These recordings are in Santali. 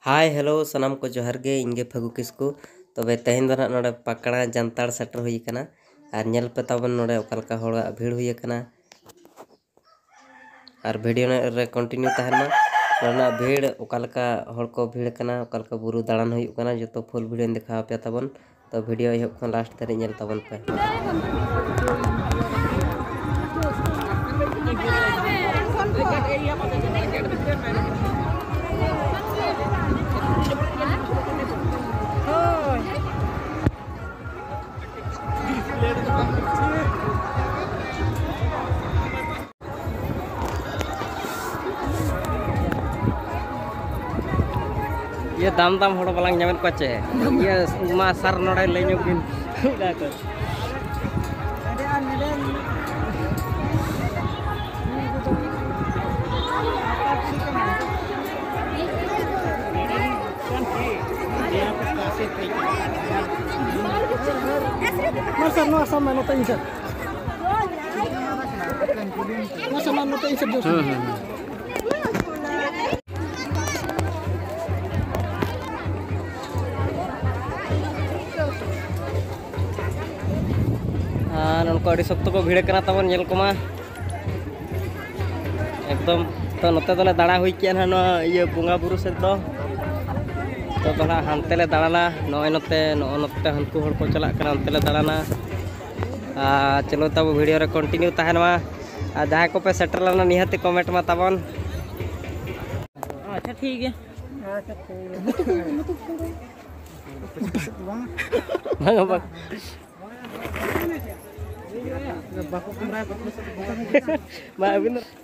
ᱦᱟᱭ ᱦᱮᱞᱳ ᱥᱟᱱᱟᱢ ᱠᱚ ᱡᱚᱦᱟᱨ ᱜᱮ ᱤᱧ ᱜᱮ ᱯᱷᱟᱹᱜᱩ ᱠᱤᱥᱠᱩ ᱛᱚᱵᱮ ᱛᱮᱦᱮᱧ ᱫᱚ ᱱᱟᱦᱟᱜ ᱱᱚᱰᱮ ᱯᱟᱠᱲᱟ ᱡᱟᱱᱛᱟᱲ ᱥᱮᱴᱮᱨ ᱦᱩᱭ ᱟᱠᱟᱱᱟ ᱟᱨ ᱧᱮᱞ ᱯᱮ ᱛᱟᱵᱚᱱ ᱱᱚᱰᱮ ᱚᱠᱟ ᱞᱮᱠᱟ ᱦᱚᱲᱟᱜ ᱵᱷᱤᱲ ᱦᱩᱭ ᱟᱠᱟᱱᱟ ᱟᱨ ᱵᱷᱤᱰᱤᱭᱳ ᱨᱮ ᱠᱚᱱᱴᱤᱱᱤᱭᱩ ᱛᱟᱦᱮᱱ ᱢᱟ ᱱᱚᱰᱮᱱᱟᱜ ᱵᱷᱤᱲ ᱚᱠᱟ ᱞᱮᱠᱟ ᱦᱚᱲ ᱠᱚ ᱵᱷᱤᱲ ᱟᱠᱟᱱᱟ ᱚᱠᱟ ᱞᱮᱠᱟ ᱵᱩᱨᱩ ᱫᱟᱬᱟᱱ ᱦᱩᱭᱩᱜ ᱠᱟᱱᱟ ᱡᱚᱛᱚ ᱯᱷᱩᱞ ᱵᱷᱤᱰᱤᱭᱳᱧ ᱫᱮᱠᱷᱟᱣ ᱟᱯᱮᱭᱟ ᱛᱟᱵᱚᱱ ᱛᱚ ᱵᱷᱤᱰᱤᱭᱳ ᱮᱦᱚᱵ ᱠᱷᱚᱱ ᱞᱟᱥᱴ ᱫᱷᱟᱹᱨᱤᱡ ᱧᱮᱞ ᱛᱟᱵᱚᱱ ᱯᱮ ᱤᱭᱟᱹ ᱫᱟᱢ ᱫᱟᱢ ᱦᱚᱲ ᱵᱟᱞᱟᱝ ᱧᱟᱢᱮᱫ ᱠᱚᱣᱟ ᱪᱮ ᱤᱭᱟᱹ ᱢᱟ ᱥᱟᱨ ᱱᱚᱰᱮ ᱞᱟᱹᱭ ᱧᱚᱜ ᱵᱤᱱ Mas, no, sama, no te dice. ᱱᱚᱝᱠᱟ ᱟᱹᱰᱤ ᱥᱚᱠᱛᱚ ᱠᱚ ᱵᱷᱤᱲ ᱠᱟᱱᱟ ᱛᱟᱵᱚᱱ ᱧᱮᱞ ᱠᱚᱢᱟ ᱮᱠᱫᱚᱢ ᱛᱚ ᱱᱚᱛᱮ ᱫᱚᱞᱮ ᱫᱟᱬᱟ ᱦᱩᱭ ᱠᱮᱜᱼᱟ ᱱᱟᱦᱟᱜ ᱱᱚᱣᱟ ᱤᱭᱟᱹ ᱵᱚᱸᱜᱟ ᱵᱩᱨᱩ ᱥᱮᱫ ᱫᱚ ᱛᱚ ᱫᱚ ᱱᱟᱦᱟᱜ ᱦᱟᱱᱛᱮ ᱞᱮ ᱫᱟᱬᱟᱱᱟ ᱱᱚᱜᱼᱚᱭ ᱱᱚᱛᱮ ᱱᱚᱜᱼᱚ ᱱᱚᱛᱮ ᱦᱟᱹᱱᱠᱩ ᱦᱚᱲ ᱠᱚ ᱪᱟᱞᱟᱜ ᱠᱟᱱᱟ ᱚᱱᱛᱮ ᱞᱮ ᱫᱟᱬᱟᱱᱟ ᱪᱚᱞᱚ ᱛᱟᱵᱚ ᱵᱷᱤᱰᱤᱭᱳ ᱨᱮ ᱠᱚᱱᱴᱤᱱᱤᱭᱩ ᱛᱟᱦᱮᱱ ᱢᱟ ᱟᱨ ᱡᱟᱦᱟᱸᱭ ᱠᱚᱯᱮ ᱥᱮᱴᱮᱨ ᱞᱮᱱᱟ ᱱᱤᱦᱟᱹᱛᱤ ᱠᱚᱢᱮᱱᱴ ᱢᱟ ᱛᱟᱵᱚᱱ ᱟᱪᱪᱷᱟ ᱴᱷᱤᱠ ᱜᱮᱭᱟ ᱟᱪᱪᱷᱟ ᱴᱷᱤᱠ ᱜᱮᱭᱟ ᱵᱟᱠᱚ ᱠᱟᱢᱨᱟᱭᱟ ᱵᱟᱠᱚ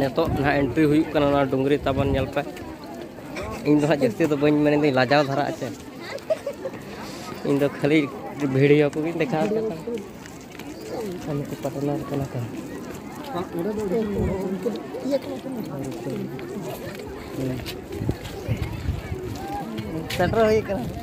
ᱱᱤᱛᱚᱜ ᱱᱟᱦᱟᱜ ᱮᱱᱴᱨᱤ ᱦᱩᱭᱩᱜ ᱠᱟᱱᱟ ᱚᱱᱟ ᱰᱩᱝᱨᱤ ᱛᱟᱵᱚᱱ ᱧᱮᱞ ᱯᱮ ᱤᱧ ᱫᱚ ᱦᱟᱸᱜ ᱡᱟᱹᱥᱛᱤ ᱫᱚ ᱵᱟᱹᱧ ᱢᱮᱱ ᱫᱟᱹᱧ ᱞᱟᱡᱟᱣ ᱫᱷᱟᱨᱟ ᱟᱪᱮ ᱤᱧ ᱫᱚ ᱠᱷᱟᱹᱞᱤ ᱵᱷᱤᱰᱤᱭᱳ ᱠᱚᱜᱮᱧ ᱫᱮᱠᱷᱟᱣ ᱯᱮ ᱠᱟᱱᱟ ᱠᱟᱹᱢᱤ ᱠᱚ ᱯᱟᱴᱱᱟᱨ ᱠᱟᱱᱟ ᱠᱚ ᱥᱮᱴᱮᱨ ᱦᱩᱭ ᱠᱟᱱᱟ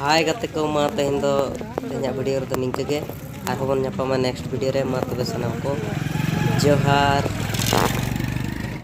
ᱦᱟᱭ ᱜᱟᱛᱮ ᱠᱚ ᱢᱟ ᱛᱮᱦᱮᱧ ᱫᱚ ᱛᱮᱦᱮᱧᱟᱜ ᱵᱷᱤᱰᱤᱭᱳ ᱨᱮᱫᱚ ᱱᱤᱝᱠᱟᱹ ᱜᱮ ᱟᱨᱦᱚᱸ ᱵᱚᱱ ᱧᱟᱯᱟᱢᱟ ᱱᱮᱠᱥᱴ ᱵᱷᱤᱰᱤᱭᱳ ᱨᱮ ᱢᱟ ᱛᱚᱵᱮ ᱥᱟᱱᱟᱢ ᱠᱚ ᱡᱚᱦᱟᱨ